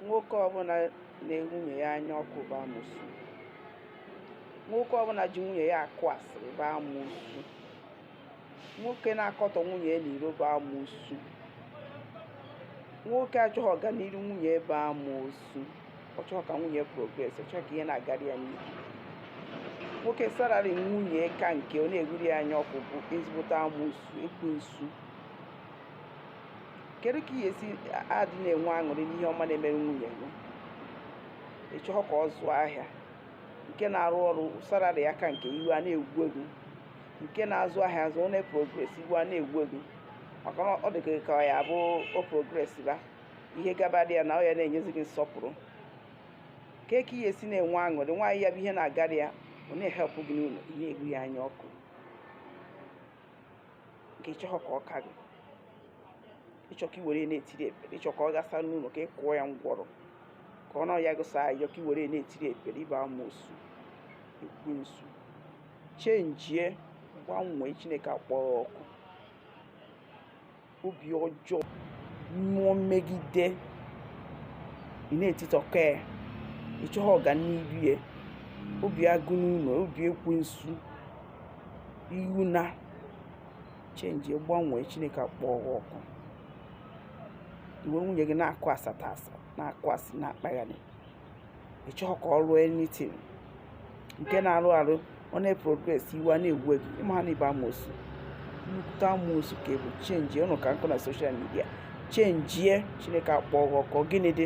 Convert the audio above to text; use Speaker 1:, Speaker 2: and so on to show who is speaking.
Speaker 1: nwoke ọbụla na-ewu nwunye ya anya ọkụ bụ amoosu nwoke ọbụla ji nwunye ya akụ asịrị bụ amoosu nwoke na-akọtọ nwunye ya n'iro bụ amoosu nwoke achọghị ọganihu nwunye bụ amoosu ọ chọghị ka nwunye progress ọ chọghị ka ihe na-agara ya n'ihu nwoke salary nwunye ka nke ọ na-ewuri ya anya ọkụ bụ ezigbote amoosu ekwensu kedu ka ị ya-esi adị na-enwe aṅụrị n'ihe ọma na-emere nwunye gị ị chọghị ka ọ zụọ ahịa nke na-arụ ọrụ salary ya ka nke gị iwe a na-ewu gị nke na-azụ ahịa azụ ọ na-progress iwe a na-ewu gị maka na ọ dị gị ka ya bụ o progress ba ihe gabara ya na ọ ya na-enyezi gị nsọpụrụ kedu ka ị ya-esi na-enwe aṅụrị nwaanyị ya bụ ihe na-agara ya ọ na-ehelp gị n'ụlọ ị na-ewu ya anya ọkụ nke ị chọghọ ka ọ ka gị ị chọ ka i were na-etiri ekpere ị chọ ka ọ gasa n'ụlọ ka ị kụọ ya ngwọrọ ka ọ na-ayọ gị sọ ayọ ka i were na-etiri ekpere ị bụ amoosu ekwensu chenjie gbanwee chineke akpọ gị ọkụ obi ọjọọ mmụọ mmegide ị na-etitọka ya ị chọghị ọganihu ya obi agụ n'ụlọ obi ekwensu iwu na chenjie gbanwee chineke akpọ gị ọkụ i we nwunye gị na-akụ asata asa na-akụ asị na-akpagharị ị chọghị ka ọ rụọ anything nke na-arụ arụ ọ na-eprogress iwe a na-ewu gị ị maha na ị bụ amoosu nnukwute amoosu ka ị bụ chenjie ọnụ ka nkọ na social media chenjie chineke akpọ gị ọkụ gịnị dị